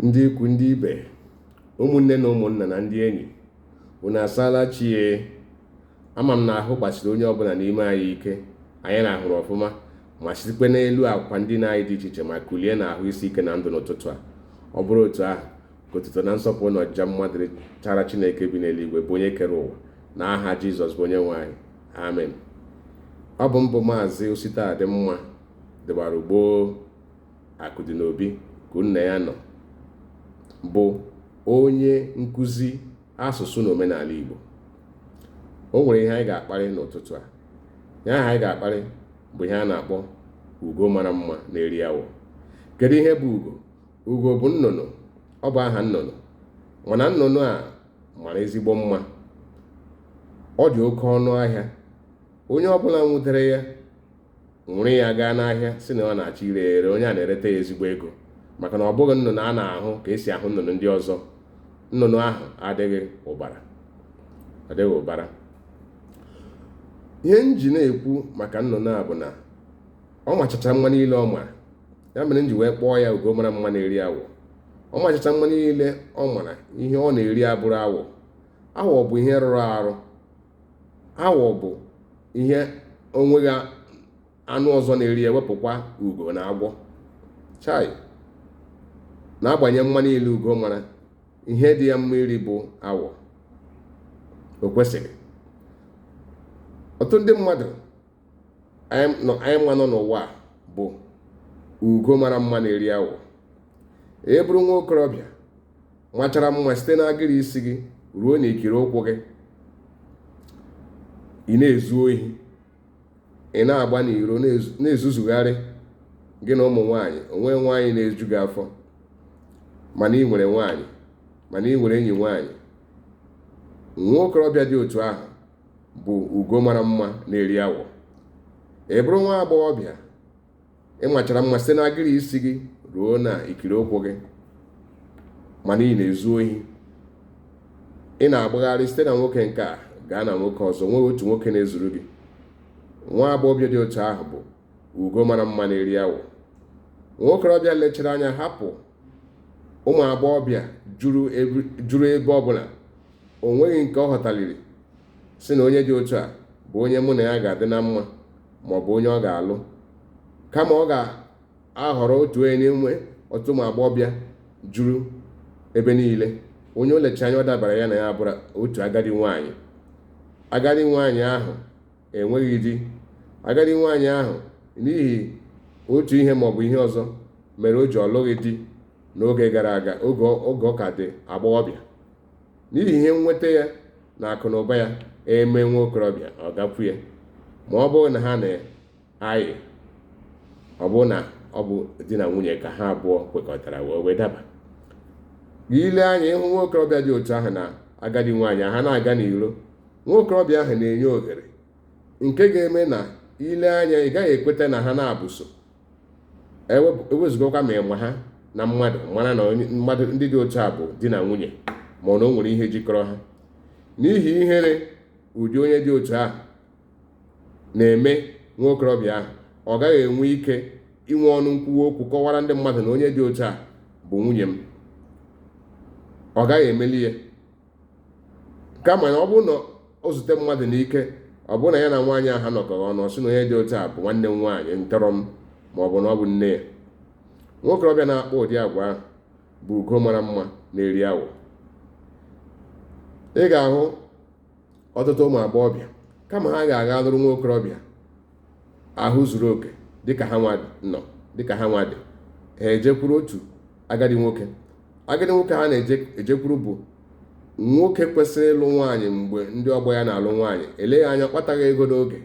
ndị ikwu ndị ibe ụmụnne na ụmụnna na ndị enyi unu asaala chi e ama m na ahụ gbasiri onye ọbụla n'ime anyị ike anyị rahụrụ ọfụma ma sitekwe n'elu akwa ndina anyị dị iche iche ma kulie na ahụ isi ike na ndụ n'ụtụtụ a ọ bụrụ otu ahụ ka otuto na nsọpụrụ na ọjịja mma dịrịchara chineke bi n'eluigwe bụ onye kere ụwa na aha jizọs bụ onye nwe anyị amen ọ bụ m bụ maazị ositadịmma dịwara ugboo akụ dị n'obi ka nna ya nọ bụ onye nkụzi asụsụ na omenala igbo o nwere ihe anyị ga-akparị n'ụtụtụ a ihe ahụ anyị ga-akparị bụ ihe a na-akpọ ugo mara mma na-eri awọ kedu ihe bụ ugo ugo bụ nnụnụ ọ bụ aha nnụnụ mana nnụnụ a mara ezigbo mma ọ dị oke ọnụ ahịa onye ọbụla nwụdere ya were ya gaa n'ahịa sị na ọ na-achọ ire ere onye a na-ereta ya ezigbo ego maka na ọ bụghị nnụnụ a na-ahụ ka esi ahụ nnụnụ ndị ọzọ nnụnụ ahụ adịghị ụbara ihe m ji na-ekwu maka nnụnụ a bụ na ọ machacha mma niile ọ mara ya mere m ji wee kpọọ ya ugo mara mma na-eri awọ ọ machacha mma niile ọ mara ihe ọ na-eri abụrụ awọ awọ bụ ihe rụrụ arụ awọ bụ ihe o nweghị anụ ọzọ na-eri ewepụkwa ugo na agwọ chai n'agbanyeghị mma niile ugo mara ihe dị ya mma iri bụ awọ o kwesịrị ọtụtụ ndị mmadụ anyị nwa nọ n'ụwa a bụ ugo mara mma na-eri awọ ị bụrụ nwa okorobịa machara mma site n'agịrị isi gị ruo n'ikiri ụkwụ gị ị na-ezu ohi ị na-agba n'iro na-ezuzugharị gị na ụmụ nwaanyị o nweghị nwaanyị na-eju gị afọ mana ị nwere nwaanyị mana ị nwere enyi nwaanyị nwa okorobịa dị otu ahụ bụ ugo mara mma na-eri awọ ị bụrụ nwa agbọghọbịa ị machara mma site n'agịrị isi gị ruo na ikiri ụkwụ gị mana ị na-ezu ohi ị na-agbagharị site na nwoke nke a gaa na nwoke ọzọ o nweghị otu nwoke na-ezuru gị nwa agbọghọbịa dị otu ahụ bụ ugo mara mma na-eri awọ nwa okorobịa lechara anya hapụ ụmụ agbọghọbịa juru ebe ọbụla o nweghị nke ọ họtaliri sị na onye dị otu a bụ onye mụ na ya ga-adị na mma ma ọ bụ onye ọ ga-alụ kama ọ ga-ahọrọ otu onye n'ime ọtụtụ ụmụ agbọghọbịa juru ebe niile onye o lecha anya ọ dabara ya na ya abụrụ otu agadi nwaanyị agadi nwaanyị ahụ enweghị di agadi nwaanyị ahụ n'ihi otu ihe maọbụ ihe ọzọ mere o ji ọ lụghị di n'oge gara aga oge ọ ka dị agbọghọbịa n'ihi ihe nnweta ya na akụ na ụba ya eme nwa okorobịa ọ gakwu ya ma ọ bụrụ na ha na ayị ọ bụ na ọ bụ di na nwunye ka ha abụọ kwekọtara wee daba i lee anya ị hụ nwa okorobịa dị otu ahụ na agadi nwaanyị ha na-aga n'iro nwa okorobịa ahụ na-enye ohere nke ga-eme na i lee anya ị gaghị ekweta na ha na abụọ so ewezugakwa ma ị ma ha na mmadụ mara na mmadụ ndị dị otu a bụ di na nwunye ma ọ na o nwere ihe jikọrọ ha n'ihi ihere ụdị onye dị otu ahụ na-eme nwa okorobịa ahụ ọ gaghị enwe ike inwe ọnụ nkwuwa okwu kọwara ndị mmadụ na onye dị otu a bụ nwunye m ọ gaghị emeli ya kama na ọ bụrụ na o zute mmadụ n'ike ọ bụrụ na ya na nwaanyị ahụ nọkọrọ ọnụ ọ sị na onye dị otu a bụ nwanne m nwaanyị ntọrọ m ma ọ bụ na ọ bụ nne ya nwa okorobịa na-akpa ụdị agwa ahụ bụ ugo mara mma na-eri awọ ị ga-ahụ ọtụtụ ụmụ agbọghọbịa kama ha ga-aga lụrụ nwa okorobịa ahụ zuru oke dịka ha nwa nọ dịka ha nwa dị ha ejekwuru otu agadi nwoke agadi nwoke ha na-ejekwuru bụ nwoke kwesịrị ịlụ nwaanyị mgbe ndị ọgbọ ya na-alụ nwaanyị eleghị anya ọ kpataghị ego n'oge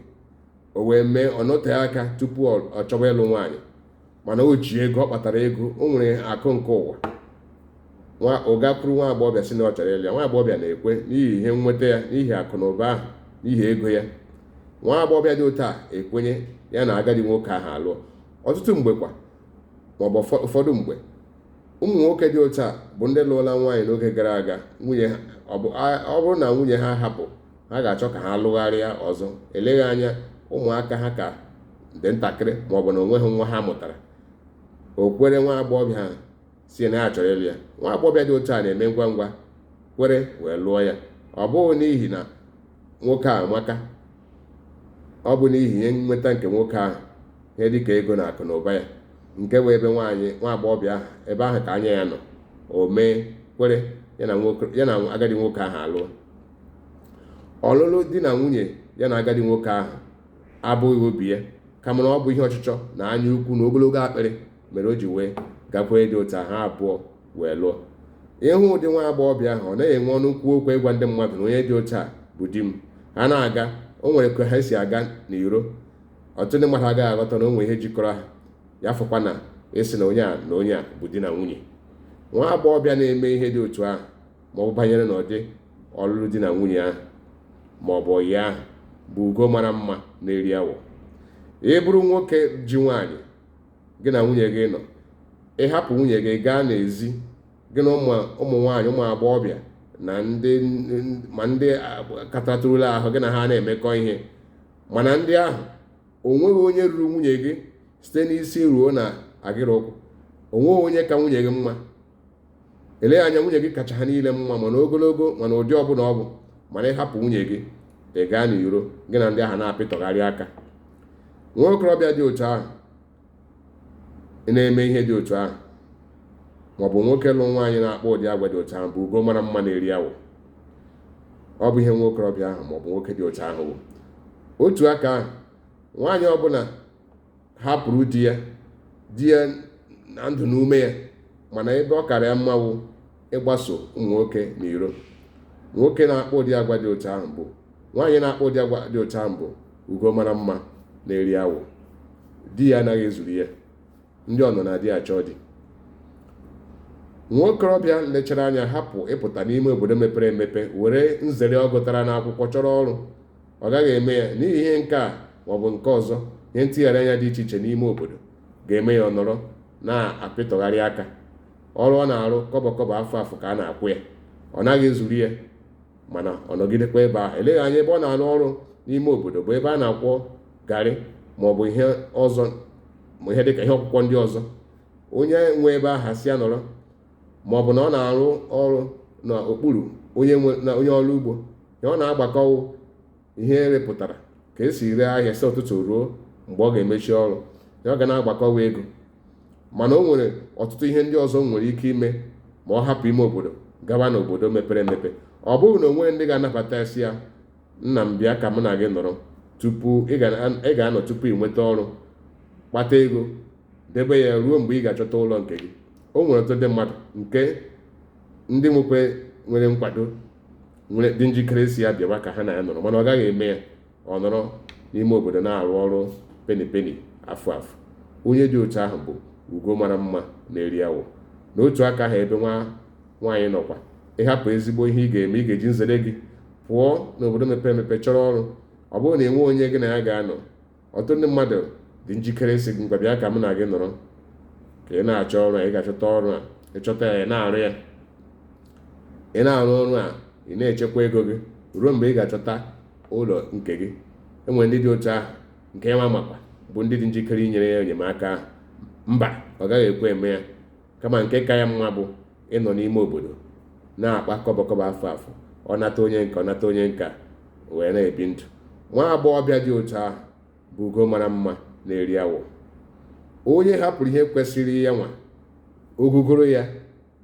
o wee mee ọ nọtee aka tupu ọ chọwa ịlụ nwaanyị mana o ji ego ọ kpatara ego o nwere akụ nke ụwa ọ gakwuru nwa agbọghọbịa sị na ọ chọrọ ịlụ ya nwa agbọghọbịa na-ekwe n'ihi ihe nnweta ya n'ihi akụ na ụba ahụ n'ihi ego ya nwa agbọghọbịa dị otu a ekwenye ya na agadi nwoke ahụ alụọ ọtụtụ mgbe kwa maọbụ ụfọdụ mgbe ụmụ nwoke dị otu a bụ ndị lụọla nwaanyị n'oge gara aga nwunye ọ bụrụ na nwunye ha hapụ ha ga-achọ ka ha lụgharịa ọzọ eleghị anya ụmụaka ha ka dị ntakịrị ma ọ bụ na o nweghị nwa ha mụtara o kwere nwa agbọghọbịa a sị na ya chọrọ ịlụ ya nwa agbọghọbịa dị otu a na-eme ngwa ngwa kwere wee lụọ ya ọ bụghị n'ihi na nwoke a amaka ọ bụ n'ihi ihe nnweta nke nwoke ahụ ihe dịka ego na akụ na ụba ya nke bụ ebe nwaanyị nwa agbọghọbịa ahụ ebe ahụ ka anya ya nọ o mee kwere ya na agadi nwoke ahụ alụọ ọlụlụ di na nwunye ya na agadi nwoke ahụ abụghị obi ya kama na ọ bụ ihe ọchịchọ na anya ukwu na ogologo akpịrị mere o ji wee gakwee dị otu ha abụọ wee lụọ ị hụ ụdị nwa agbọghọbịa ahụ ọ naghị enwe ọnụ nkwuwa okwu ịgwa ndị mmadụ na onye dị otu a bụ di m ha na-aga o nwere ka ha si aga n'iro ọtụtụ ndị mmadụ agaghị aghọta na o nwere ihe jikọrọ ha ya fọkwa na ịsị na onye a na onye a bụ di na nwunye nwa agbọghọbịa na-eme ihe dị otu ahụ ma ọ bụ banyere n'ụdị ọlụlụ di na nwunye ahụ ma ọ bụ ọyị ahụ bụ ugo mara mma na-eri awọ ị bụrụ nwoke ji nwaanyị gị na nwunye gị nọ ị hapụ nwunye gị gaa n'ezi gị na ụmụ nwaanyị ụmụ agbọghọbịa ma ndị katatụrụla ahụ gị na ha na-emekọ ihe mana ndị ahụ o nweghị onye ruru nwunye gị site n'isi ruo na agịrị ụkwụ o nweghị onye ka nwunye gị mma eleghị anya nwunye gị kacha ha niile mma ma n'ogologo ma n'ụdị ọbụla ọ bụ mana ị hapụ nwunye gị ị gaa n'iro gị na ndị ahụ na-apịtọgharị aka nwa okorobịa dị otu ahụ na-eme ihe dị otu ahụ maọbụ nwoke lụ nwaanyị na-akpa ụdị agwa dị otu ahụ bụ ugo mara mma na-eri awọ ọ bụ ihe nwa okorobịa ahụ maọbụ nwoke dị otu ahụ bụ otu aka ahụ nwaanyị ọbụla hapụrụ di ya di ya na ndụ na ume ya mana ebe ọ kara ya mma wụ ịgbaso ụmụ nwoke n'iro nwoke na-akpa ụdị agwa dị otu ahụ bụ nwaanyị na-akpa ụdị agwa dị otu ahụ bụ ugo mara mma na-eri awọ di ya anaghị ezuru ya ndị ọ nọ na di achọ di nwa okorobịa lechara anya hapụ ịpụta n'ime obodo mepere emepe were nzere ọ gụtara n'akwụkwọ chọrọ ọrụ ọ gaghị eme ya n'ihi ihe nke a maọbụ nke ọzọ ihe ntigharị anya dị iche iche n'ime obodo ga-eme ya ọ nọrọ na-apịtọgharị aka ọrụ ọ na-arụ kọbọ kọbọ afụ afụ ka a na-akwụ ya ọ naghị ezuru ya mana ọ nọgidekwa ebe a eleghị anya ebe ọ na-arụ ọrụ n'ime obodo bụ ebe a na-akwọ garị ma ọ bụ ihe ọzọ ma ihe dịka ihe ọkwụkwọ ndị ọzọ onye nwe ebe ahụ sị ya nọrọ ma ọ bụ na ọ na-arụ ọrụ n'okpuru onye ọrụ ugbo ya ọ na-agbakọwụ ihe erepụtara ka esi ree ahịa si ụtụtụ ruo mgbe ọ ga-emechi ọrụ ya ọ ga na-agbakọwa ego mana o nwere ọtụtụ ihe ndị ọzọ o nwere ike ime ma ọ hapụ ime obodo gawa n'obodo mepere emepe ọ bụghị na o nweghị ndị ga-anabata sị ya nna m bịa ka mụ na gị nọrọ tupu ị ga-anọ tupu ị nweta ọrụ kpata ego debe ya ruo mgbe ị ga-achọta ụlọ nke gị o nwere ọtụtụ ndị mmadụ nke ndị nwekwe nwere nkwado dị njikere sị ya bịawa ka ha na ya nọrọ mana ọ gaghị eme ya ọ nọrọ n'ime obodo na-arụ ọrụ peni peni afụ afụ onye dị otu ahụ bụ ugo mara mma na-eri awọ na otu aka ahụ ebe nwaanyị nọkwa ị hapụ ezigbo ihe ị ga-eme ị ga-eji nzere gị pụọ n'obodo mepere emepe chọrọ ọrụ ọ bụrụ na enweghị onye gị na ya ga-anọ ọtụtụ ndị mmadụ dị njikere ịsị gị ngwa bịa ka mụ na gị nọrọ ka ị na-achọ ọrụ a ị ga-achọta ọrụ a ị chọta ya ị na-arụ ya ị na-arụ ọrụ a ị na-echekwa ego gị ruo mgbe ị ga-achọta ụlọ nke gị enwere ndị dị otu ahụ nke ya makwa bụ ndị dị njikere inyere ya enyemaka ahụ mba ọ gaghị ekwe eme ya kama nke ka ya mma bụ ịnọ n'ime obodo na-akpa kọbọ kọbọ afụ afụ ọ nata onye nka ọ nata onye nka wee na-ebi ndụ nwa agbọghọbịa dị otu ahụ bụ ugo mara mma na-eri awọ onye hapụrụ ihe kwesịrị ya nwa ogogoro ya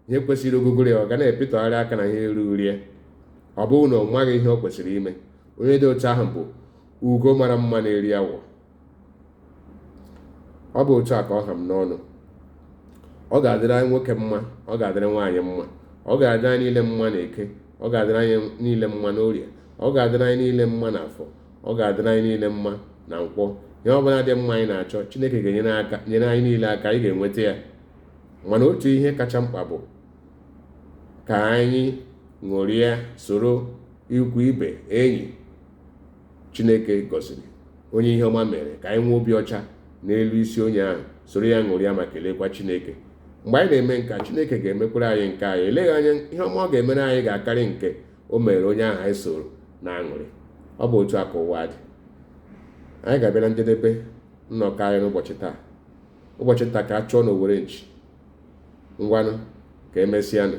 ihe kwesịrị ogogoro ya ọ ga na-epịtọgharị aka na ihe ruru rie ọ bụghị na ọ maghị ihe o kwesịrị ime onye dị otu ahụ bụ ugo mara mma na-eri awọ ọ bụ otu a ka ọ ha m n'ọnụ ọ ga-adịrị anyị nwoke mma ọ ga-adịrị nwaanyị mma ọ ga-adịrị anyị niile mma na eke ọ ga-adịrị anyị niile mma n'orie ọ ga-adịrị anyị niile mma na afọ ọ ga-adịrị anyị niile mma na nkwọ ihe ọ bụla dị mma anyị na-achọ chineke ga-enyere anyị niile aka anyị ga-enweta ya mana otu ihe kacha mkpa bụ ka anyị ṅụrịa soro ikwu ibe enyi chineke gọziri onye ihe ọma mere ka anyị nwee obi ọcha n'elu isi onye ahụ soro ya ṅụrịa ma kelekwa chineke mgbe anyị na-eme nka chineke ga-emekwara anyị nke anyị eleghị anya ihe ọma ọ ga-emere anyị ga-akarị nke o mere onye ahụ anyị soro na-aṅụrị ọ bụ otu a ka ụwa dị anyị ga-abịa na njedebe nnọkọ anyị n'ụbọchị taa ụbọchị nta ka a chụọ n'owere nchi ngwanụ ka emesịanụ